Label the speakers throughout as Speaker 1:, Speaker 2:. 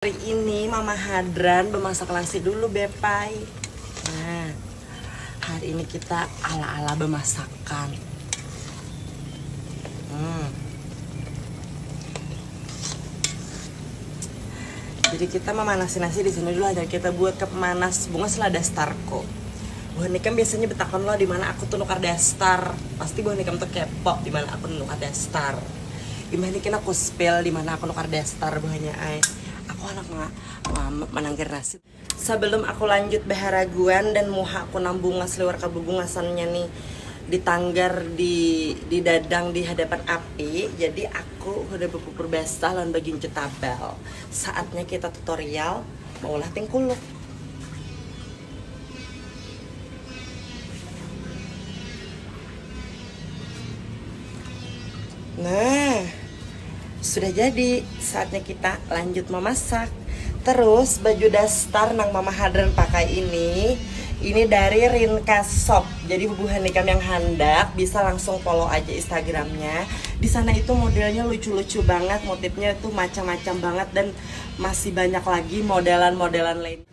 Speaker 1: Hari ini Mama Hadran bemasak nasi dulu Bepai. Nah, hari ini kita ala-ala bemasakan. Hmm. Jadi kita memanasin nasi di sini dulu aja kita buat ke pemanas bunga selada starko. Buah nikam biasanya betakon lo di mana aku tuh nukar daster. Pasti buah nikam tuh kepo di mana aku nukar daster. imbah ini kena ku spill di mana aku nukar daster buahnya ai aku anak ma, ma, ma manangkir nasi sebelum aku lanjut baharaguan dan muha aku nang bungas liwar kabubungasannya nih di tanggar di di dadang di hadapan api jadi aku hudah bapupur basah lawan bagincu tabal saatnya kita tutorial maulah tingkuluk. Nah, sudah jadi. Saatnya kita lanjut memasak. Terus baju dastar nang Mama Hadran pakai ini, ini dari Rinka Shop. Jadi bubuhan ikam yang handak bisa langsung follow aja Instagramnya. Di sana itu modelnya lucu-lucu banget, motifnya itu macam-macam banget dan masih banyak lagi modelan-modelan lain.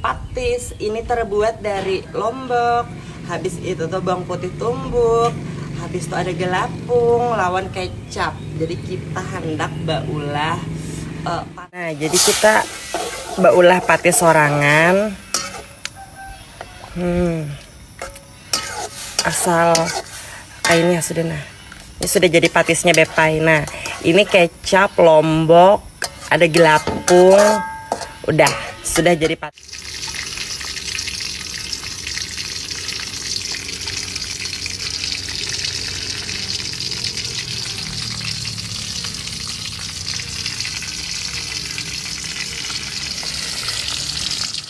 Speaker 1: Patis, ini terbuat dari lombok, habis itu tuh bawang putih tumbuk, habis itu ada gelapung lawan kecap. Jadi kita hendak baulah uh, Nah, jadi kita baulah patis sorangan. Hmm. asal kainnya sudah nah ini sudah jadi patisnya bepai nah ini kecap lombok ada gelapung udah sudah jadi patis